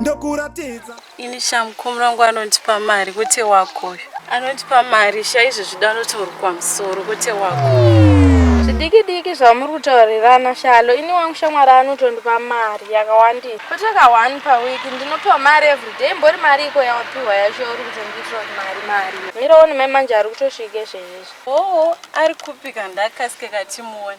ndokuratidza ini chamukomura wangu anondipa mari kwete wakoyo anondipa mari chaizvo zvida anoti uri kwamusoro kwete wako zvidiki diki zvamuri kutaurirana shalo ini wangu shamwari anotondipa mari yakawandira kuteka one paweki ndinopiwa mari everyday mbori mari iko yawapiwa yacho uri kuti ndiitira mari mari miraoni mai manje ari kutosvike zvezvezvo oo ari kupika ndakasike katimuone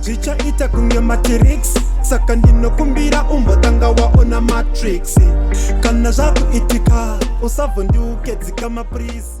zvichaita kunge matrix saka ndinokumbira umbotanga waona matrix kana zvakuitika usavhondiuke dzikama please